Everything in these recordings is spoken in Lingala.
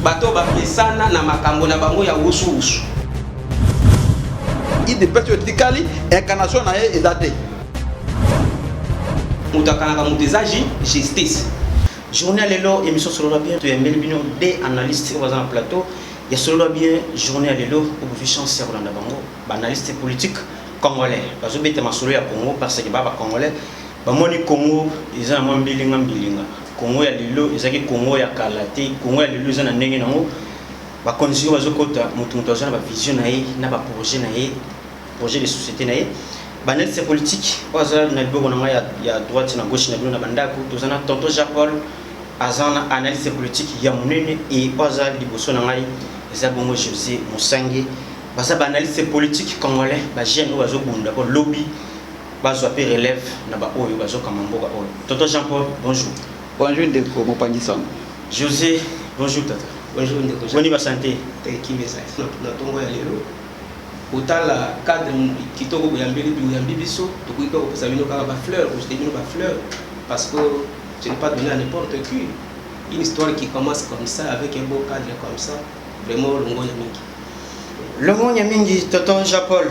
bato bamesana na makambo na bango ya wusuwusu idps oyo etikali incarnation na ye eza te moto akanaka moto eza justice journée lelo émission solola bien toyambeli bino de analyste oyo baza na plateau ya solola bien journée ya lelo okofi chance ya kolanda bango baanalyste politique Congolais bazo beta masolo ya Congo parce que ba ba Congolais ba moni Congo eza na mwa mbilinga mbilinga. Congo ya lelo ezaki Congo ya kala te. Congo ya lelo eza na ndenge nango. Ba konzi sikoyo bazo kota mutu mutu aza na ba vision na ye na ba projet na ye projet de societe na ye. Ba analyste ya politique oyo aza na liboko na ngai ya, ya droite na gauche na bino na ba ndako toza na tonton Jean Paul aza na analyste politique ya munene et oyo aza liboso na ngai eza bongo Jose Musange Baza ba analyste politique congolais ba jeune oyo bazo bunda po lobby bazwa pe relève na ba oyo bazo kamba mboka oyo. Tonton Jean Paul, bonjour. Bonjour ndeko mopanzi sango. Jose, bonjour tata. Bonjour ndeko. Boni ba santé. Te kimeza. Na tongo ya lelo kotala cadre kitoko boyambeli boyambi biso tokoki mpe kopesa bino kaka bafleur kojete bino bafleur parce que ce n'est pas donné à n'importe qui une histoire qui commence comme ça avec un beau cadre comme ça Vraiment longonya mingi. Longonya mingi tonton Jean Paul.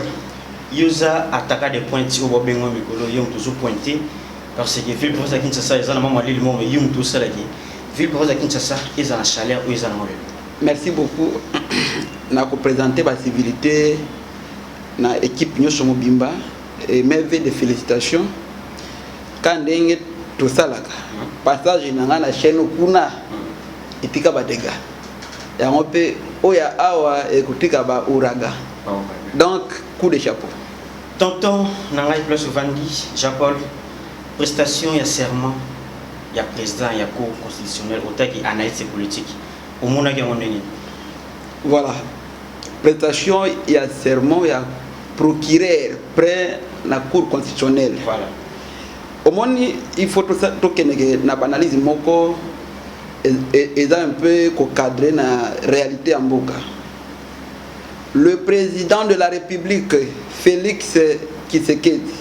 Yoza ataka de pointe obo bengo mikolo yo mutu zo pointe parce que ville province ya Kinshasa eza na mama lili moko yo mutu osalaki ville province ya Kinshasa eza na chaleur oyo eza na mabele. Merci beaucoup. na ko présenter ba civilités na équipe nyoso mobimba et mes vœux de félicitations. Ka ndenge tosalaka passage na ngai na chaîne kuna etika ba dégâts. Yango pe oyo ya awa ekotika ba ouragan. Donc coup de chapeau. Tonton na ngai place ovandi jean paul prestation ya serment ya president ya cour constitutionnelle otaki analyse politique omonaki yango ndenge nini voilà prestation ya serment ya procureur près na cour constitutionnelle voilà omoni il faut tokendeke na baanalyse moko eza un peu ko cadrer na réalité ya mboka le président de la république Félix Tshisekedi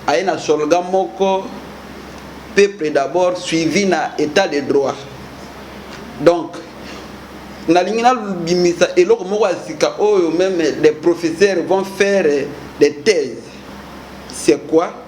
aye na solga moko peuple d'abord suivi na état de droit donc nalingi nabimisa eloko moko ya sika oyo meme les professeurs vont faire des thèses c'est quoi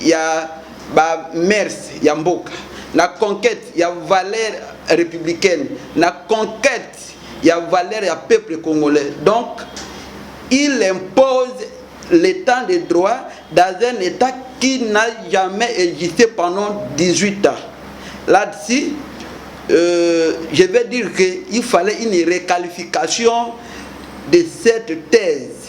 ya ba mers ya mboka na conquête ya valeur républicaine na conquête ya valeur ya peuple congolais donc il impose l'état de droit dans un état qui n'a jamais existé pendant 18 ans là-dessus euh, je vais dire qu'il fallait une réqualification de cette thèse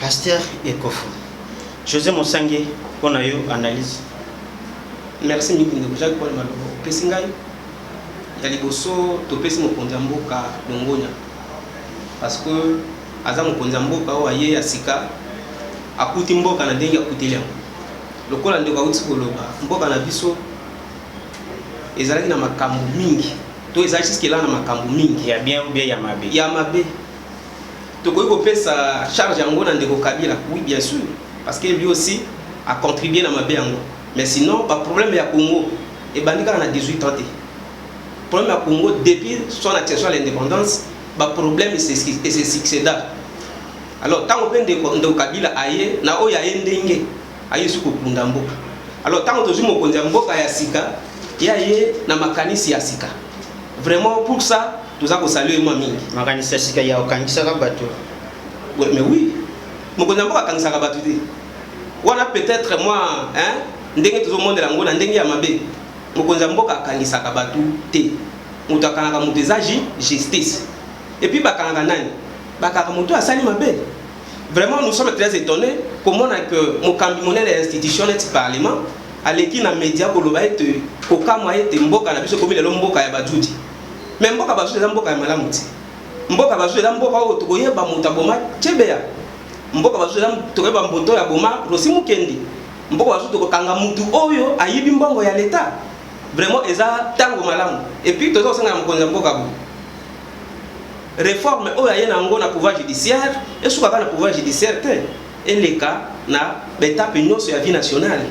Pasteur Ekofu. Jose Mosange mpo na yo analyse. Merci mingi ndeko Jacques Paul Malobo. Opesi ngai ya liboso topesi mokonzi ya mboka longonya parce que aza mokonzi ya mboka oyo aye ya sika akuti mboka na ndenge akuteli yango lokola ndeko auti koloba mboka na biso ezalaki na makambo mingi to ezalaki jusque là na makambo mingi ya bien ou bien ya mabe ya mabe Tokoki kopesa charge yango na ndeko Kabila? Oui bien sur parce que lui aussi a contribue na mabe yango mais sinon ba problème ya Congo ebandi kaka na 18 ans te. Problème ya Congo depuis son accession à l'indépendance ba problème se succéda. Alors tango pe ndeko ndeko Kabila aye na oyo aye ndenge aye su kokunda mboka alors tango tozwi mokonzi ya mboka ya sika ye aye na makanisi ya sika vraiment pour ça toza kosalue mwa mingi makanisi ya sika ya okangisaka bato Oui, mais oui mokonzi ya mboka akangisaka bato te wana peut-être mwa hein, ndenge tozomonela yango na ndenge ya mabe mokonzi ya mboka akangisaka bato te moto akangaka moto eza justice epuis bakangaka nani bakangaka moto asali mabe Vraiment, nous sommes très étonnés komona que mokambi monene ya institution neti parlement aleki na media koloba ete kokamwa ete mboka na biso ekomi lelo mboka ya bajudi me mboka bajudi eza mboka ya malamu te mboka bajudi eza mboka oyo tokoyeba moto aboma cebeya mboka bajudi eza tokoyeba mboto ya boma rosi mokendi mboka bajudi tokokanga motu oyo ayibi mbongo ya leta vraiment eza ntango malamu epuis toza kosengana mokonzi ya mboka boye Reforme oyo aye na yango na pouvoir judiciaire esuka kaka na pouvoir judiciaire te, eleka na betape nyonso ya vie nationale,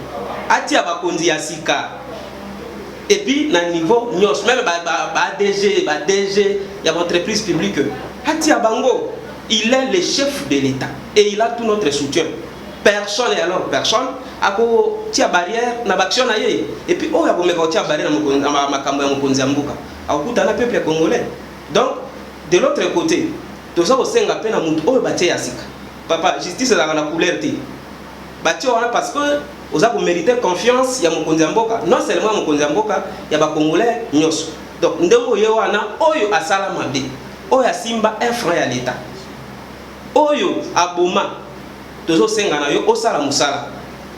atia bakonzi ya sika et puis na niveau nyonso meme ba, ba, ba DG ba DG ya ba entreprise publique atia bango il est le chef de l'État et il a tout notre soutien personne et alors personne akotia barrière na baaction na ye epuis oyo akomeka kotia barrière na makambo ya mokonzi ya mboka akokutana peuple congolais Donc de l'autre cote toza kosenga mpe na moto oyo batie ya sika papa justice ezalaka na couleur te batie wana parce que oza komerite confiance ya mokonzi ya mboka non seulement ya mokonzi ya mboka ya bacongolais nyonso donc ndenge oye wana oyo asala mabe oyo asimba un franc ya leta oyo aboma Tozo senga na yo osala musala.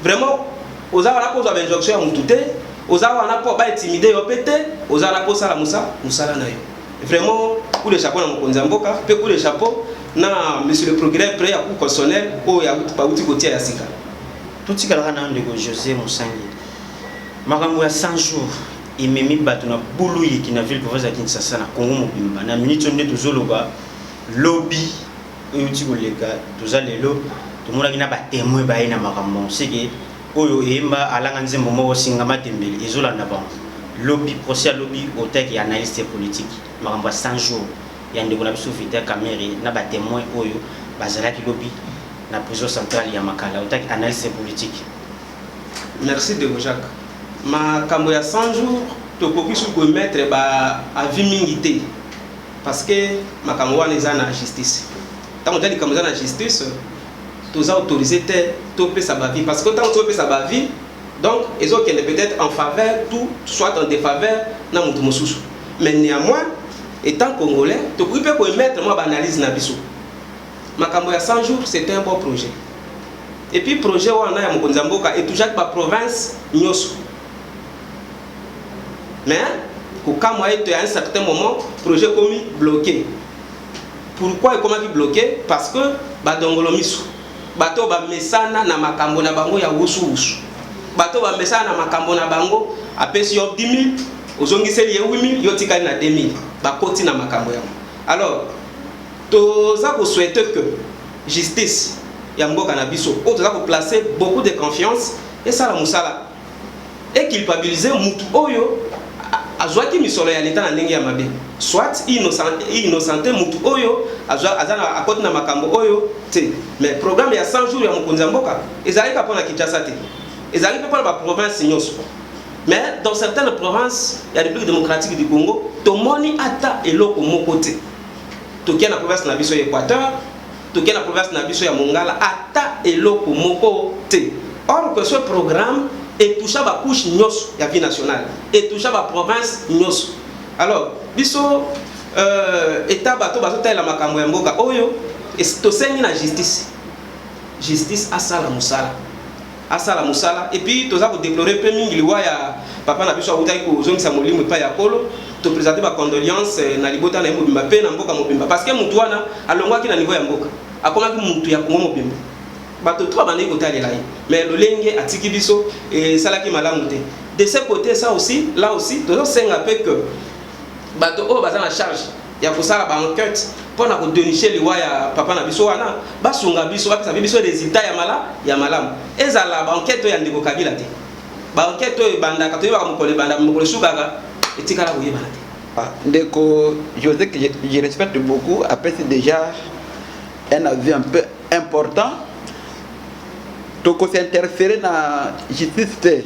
Vraiment oza wana po ozwa ba injonction ya mutu te, oza wana po ba intimide yo pe te, oza wana po osala musa musala na yo. Vraiment coup de chapeau na mokonzi ya mboka pe coup de chapeau na monsieur le procureur près ya cour constitutionnelle oyo ya bauti kotia ya sika. Totikalaka na ndeko Jose Musangi. Makambo ya 100 jours ememi bato na bulu yiki na ville province ya Kinshasa na Congo mobimba na minute oyo nde tozoloba lobi euti koleka toza lelo tomonaki na ba temoin baye na makambo yango seke oyo eyemba alanga nzembo moko singa matembele ezolanda bango lobi procès ya lobi otaki analyste politique makambo ya 100 jours ya ndeko na biso Vital Kamerhe na ba temoin oyo bazalaki lobi na prison centrale ya Makala otaki analyste politique Merci Debo Jacques. Makambo ya 100 jours tokoki su komettre ba avis mingi te. Parce que makambo wana eza na justice. Tango eza likambo eza na justice, toza autoriser te topesa ba avis parce que tango topesa ba avis donc ezo kende peut-être en faveur tout soit en défaveur na mutu mosusu. Mais néanmoins étant congolais, tokoki pe ko émettre mwa ba analyse na biso. Makambo ya 100 jours c'est un bon projet. Et puis projet wana ya mokonzi ya mboka etouchaki ba provinces nyoso. mais kokamwa ete à un certain moment projet ekomi bloqué pourquoi ekomaki bloqué parce que badongolo miso bato oyo bamesana na makambo na bango ya wusuwusu bato oyo bamesana na makambo na bango apesi yo 10000 ozongiseli ye 8000 yo otikali na 2000 bakoti na makambo yango alors toza koswete que justice ya mboka na biso oyo toza koplace beaucoup de confiance esala mosala eculpabilise mutu oyo azwaki misolo ya leta na ndenge ya mabe soit innocente mutu oyo akoti na makambo oyo te mais programme ya 100 jours ya mokonzi ya mboka ezalaki kaka mpo na kinshasa te ezalaki mpe mpo na baprovince nyonso mais dans certaines provinces ya république démocratique du congo tomoni ata eloko moko te tokia na province na biso ya équateur toke na province na biso ya mongala ata eloko moko te or que ce programme etoucha bacouche nyonso ya vie nationale etoucha baprovince nyonso alors biso euh, eta bato bazotalela makambo ya mboka oyo tosengi na justice justice asala mosala asala musala et puis toza ko deplorer mpe mingi liwa ya papa na biso awutaki kozongisa molimo epai ya kolo to presenter ba condoleances na libota na ye mobimba mpe na mboka mobimba parce que mutu wana alongwaki na niveau ya mboka akomaki mutu ya Congo mobimba bato trois bandaki kotalela ye mais lolenge atiki biso esalaki malamu te de ce côté ça aussi là aussi tozosenga mpe que bato oyo baza na charge ya kosala ba enquete mpo na kodeniche liwa ya papa na biso wana basunga biso bapesa mpe biso resultat ya mala ya malamu ezala ba enquete oyo ya ndeko kabila te ba enquete oyo ebandaka toyebaka mokolo ebanda mokolo esukaka etikala koyebana te Ah, ndeko José, que je, je respecte beaucoup, après c'est déjà un avis un peu important. Donc, on s'est interféré dans la justice.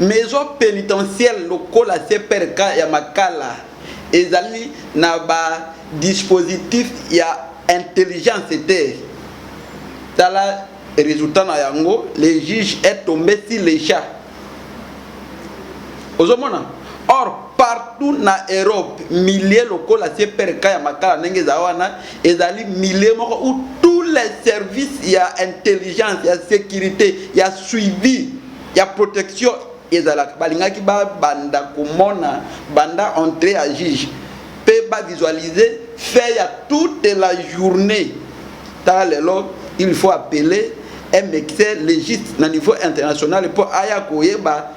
Maison penitentielle lokola CPRK ya Makala ezali na ba dispositifs ya intelligence te. Tala resultat na yango, le juge est tombe sur le chat. Ozo mona? Or, partout na Europe, milieu lokola CPRK ya Makala ndenge ezala wana, ezali milieu moko où tous les services ya intelligence ya securite ya suivi ya protection ezalaka balingaki babanda komona banda entre ya juge mpe bavisualize fait ya toute la journée tala lelo il faut appeler un médecin légiste na niveau international mpo aya koyeba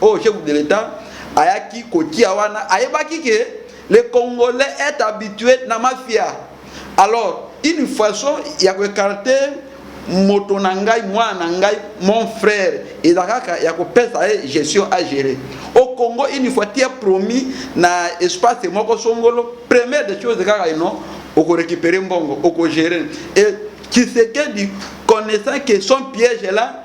oyo chef de l'etat ayaki kotia wana ayebaki ke le congolais est habitué na mafia alors une façon ya koekarte moto na ngai mwana na ngai mon frère eza kaka ya kopesa ye gestion a gérer au congo une fois tia promis na espace moko songolo première des choses kaka ino okorécupere mbongo okogere et kisekedi connaissant que son piège là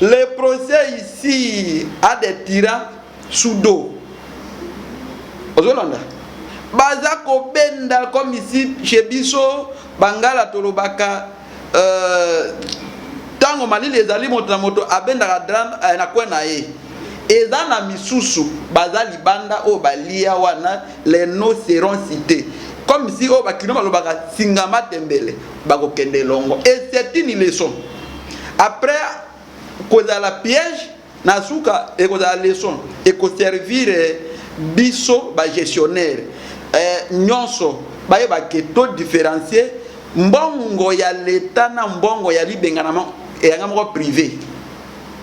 Le procès ici a des tyrans sous dos. Ozolanda? Baza kobenda comme ici chez biso bangala tolobaka euh, ntango malili ezali moto na moto abendaka drame eh, na kwe na ye eza na misusu baza libanda oyo balia wana les noms seront cités comme si oyo bakino balobaka singa matembele bakokende elongo et c'est une leçon après kozala piège na suka ekozala leçon ekoservir biso bagestionnaire eh, nyonso bayeba ke to différencier mbongo ya leta na mbongo ya libenganama eyanga moko privé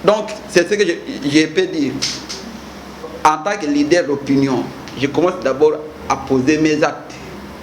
donc c'est ce que je, je peux dire en tant que leader d'opinion je commence d'abord à poser mes actes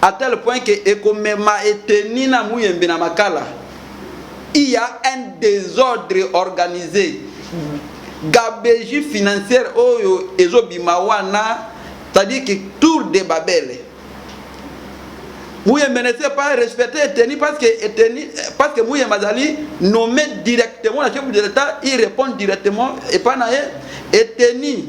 à tel point que ekomema eteni na muyembe na makala il y a un désordre organisé gabegie financière oyo ezobima wana c'est-à-dire que tour de babele muyembe ne sait pas respecter eteni parce que eteni parce que muyembe azali nommé directement na chef de l'état il répond directement epa na ye eteni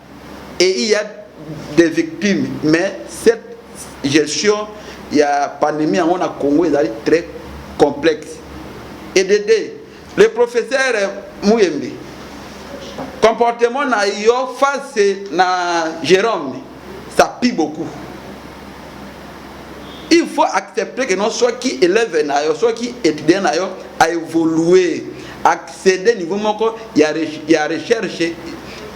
et il y a des victimes mais cette gestion il y a pandémie yango na Congo ezali très complexe et de deux le professeur Muyembe comportement na yo face na Jérôme ça pue beaucoup il faut accepter que non soki élève na yo soki étudiant na yo a évoluer accéder niveau moko ya, ya recherche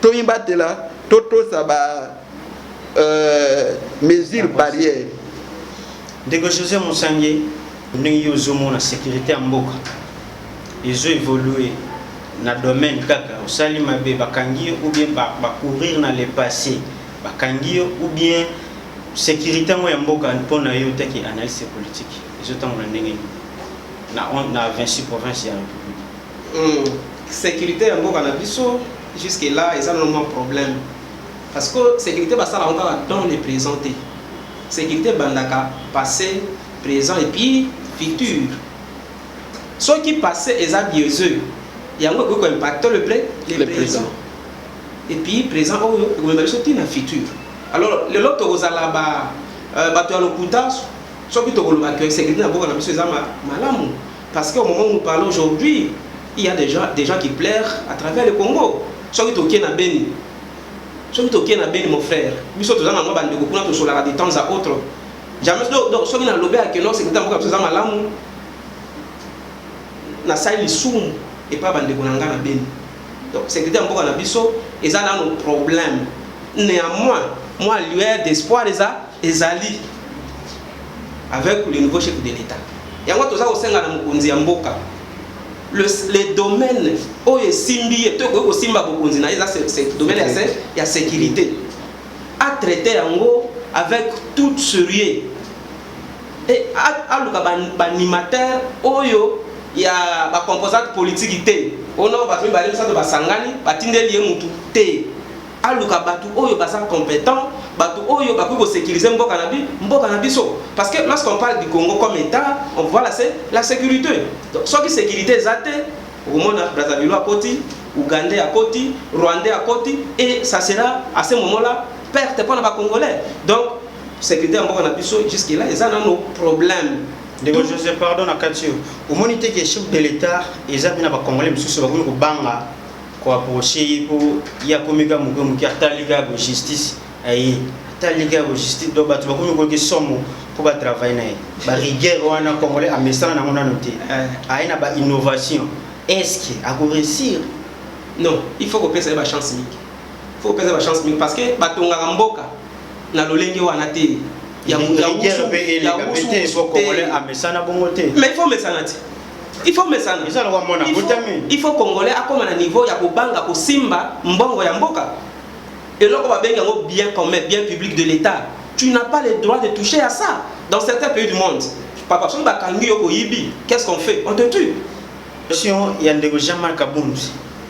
Tomibatela, totosa ba euh, mesures barrières. Ndeko Jose Musange, ndenge yo ozomona securite ya mboka ezo evolue na domaine kaka osali mabe bakangi yo ou bien bacourir na le passé bakangi yo ou bien sécurité yango ya mboka mpo na yo teke analyse politique ezotambola ndenge nini na 26 province ya république Hum securite ya mboka na biso jusque là eza nanu mwa problème parce que securite basala yango kaka dans le present te securite ebandaka passe present et puis futur soki passe eza biaiseux yango ekoki koimpacte le, pré, le, le présent. présent et puis présent oyo ekomema biso ntina futur alors lelo tokozala ba euh, bato ya lokuta soki tokoloba ke securite na mboka na biso eza malamu Parce qu'au moment où nous parlons aujourd'hui, il y'a dejà des gens qui pleurent à travers le Congo. Soki toke na Beni, soki toke na Beni mon frère, biso toza na mwa ba ndeko kuna tosolaka de temps à autre. Jamais donc, donc soki na lobe à Keno, c'est que mboka biso za malamu. Na sali lisumu et pas ba ndeko na nga na Beni. Donc c'est que mboka na biso eza na nos problèmes. Néanmoins, moi lueur d'espoir eza ezali. avec le nouveau chef de l'etat yango toza kosenga na mokonzi ya mboka le, le domaine oyo esimbi ye to ekoki kosimba bokonzi na ye eza domaine ya, se, ya sécurité atraite yango avec tout sérieux e aluka baanimateur ba oyo ya bacomposante politiki te ono bato mibale misato basangani batindeli ye motu te aluka batu oyo baza competent batu oyo bakoki ko securiser mboka na bi mboka na biso parce que lorsqu'on parle du Congo comme état on voit la la sécurité donc soki sécurité eza te okomona Brazzaville akoti Ougandais akoti Rwandais akoti et ça sera à ce moment là perte mpona ba Congolais donc sécurité ya mboka na biso jusque là eza nano problème ndeko josé pardon na kati yo omoni te ke chef de l'état eza mpe na bacongolais mosusu bakomi kobanga ko approcher ye po ye akomi kaka moke moke atali kaka bo justice aye atali kaka bo justice donc bato bakomi koyoka esomo mpo ba travaille na ye ba rigueur wana congolais amesana nango nano te aye na ba innovation est ce que ako réussir non il faut kopesa ye ba chance mingi faut kopesa ba chance mingi parce que batongaka mboka na lolenge wana te ya ya wusu ya wusu te mais il faut mesana te il faut mesana eza lokola mwana botami il faut congolais akoma na niveau ya kobanga kosimba mbongo ya mboka eloko babengi yango bien commun bien public de l'état tu n'as pas le droit de toucher à ça dans certains pays du monde papa soki bakangi yo koyibi qu'est-ce qu'on fait on te tue sion ya ndeko jean-marc abund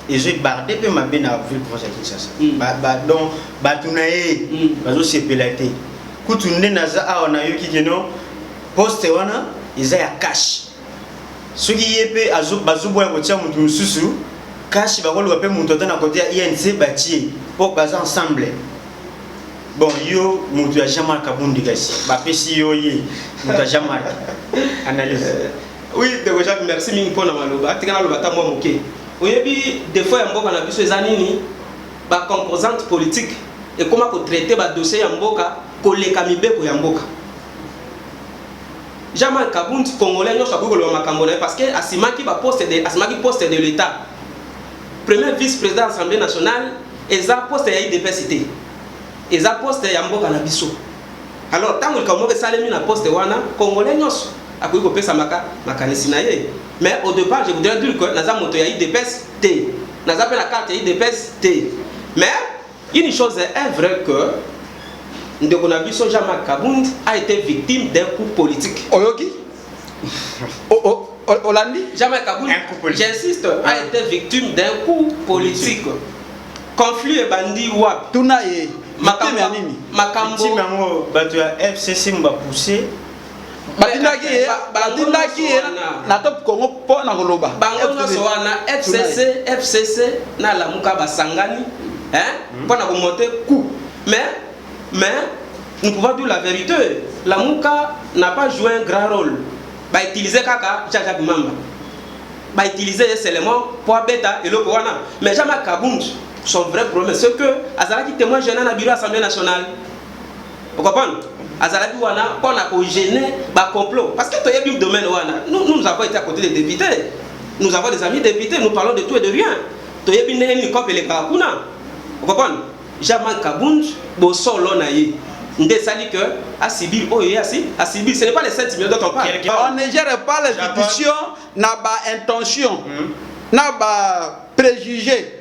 ezwi barde mpe mabe na ville province ya kinshasa hmm. donc bato na ye hmm. bazosepela te kutu nde naza awa nayoki keno Poste wana eza ya cash. Soki ye pe azo bazo boya kotia mutu mususu cash bakoluka pe mutu ata na kote ya INC batie po baza ensemble. Bon yo mutu ya Jean-Marc Kabundi kasi bapesi yo ye mutu ya Jean-Marc. Analyse. Oui, Ndeko Jacques, merci mingi mpo na maloba. Atika naloba ata mwa moke. Oyebi defaut ya mboka na biso eza nini? Ba composantes politiques ekoma ko traiter ba dossiers ya mboka koleka mibeko ya mboka. Jean Marc Kabund congolais nionso akoki koloba makambo na ye parce que asimaki ba poste de asimaki poste de l'etat premier vice président assemblée nationale eza poste ya idps te eza poste ya mboka na biso alors ntango likambo moko esalemi na poste wana congolais nyonso akoki kopesa maka makanisi na ye mais au départ je voudrais dire que naza moto ya idps te naza mpe na carte ya idps te mais Une chose est vraie que ndeko na biso Jean-Marc Kabund a été victime d'un coup politique. Oyoki? oh, oh. Olandi Jamais Kabund, j'insiste, a ah. été victime d'un coup politique. Conflit et bandit wap. Tuna ye. Makambo ya nini? Makambo. Victime yango bato ya FCC mba poussé batindaki ye batindaki ye na top congo mpo na koloba bango nyonso wana fcc fcc na lamuka basangani hmm. mpo na komonte coup mais mais nous pouvons dire la vérité lamuka n'a pas joué un grand rôle bautilize kaka jajak mamba bautilize ye seulement mpo abeta eloko wana mais jama kabund son vrai problème ce que azalaki témoin gênant na bureau assemblée nationale Vous comprenez Azalaki wana pour na ko gêner ba complot parce que toyebi domaine wana nous nous avons été à côté des députés nous avons des amis députés nous parlons de tout et de rien toyebi ndenge nini cope elekaka kuna Vous comprenez Jamal Kabund bosolo na ye nde esali que asibi oyo ye asi asibi ce n'est pas les 7 millions dont on parle on ne gère pas les institutions na ba intentions hmm. na ba préjugés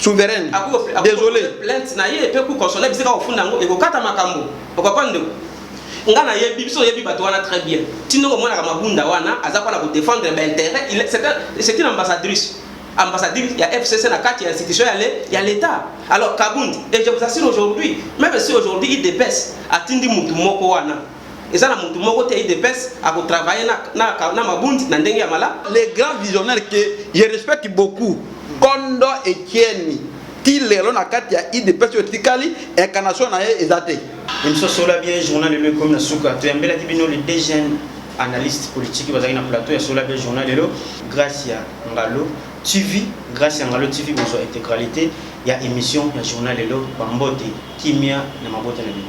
souveraine désolé plainte na ye pe ku console bisika ofunda ngo ekokata makambo okapa ndeko nga na yebi biso yebi bato wana très bien tindoko mwana ka mabunda wana aza kwa na ko défendre ba intérêt il c'est une ambassadrice ambassadrice ya FCC na kati ya institution ya le ya l'état alors Kabund et je vous assure aujourd'hui même si aujourd'hui il dépêche atindi mutu moko wana Eza na mutu moko te udps ako travailler na, na, na mabundi na ndenge ya mala. Le grand visionnaire que je respecte beaucoup Kondo Etienne ti lelo na kati ya udps oyo etikali incarnation na ye eza te. Emission Sola Bien Journal lelo ekomi na suka. Toyambelaki bino les deux jeunes analystes politiques bazalaki na plateau ya Sola Bien Journal lelo. Gracia Ngalo TV, Gracia Ngalo TV bozwa integralite ya emission ya journal lelo. Bambote, kimia na mabota na bino.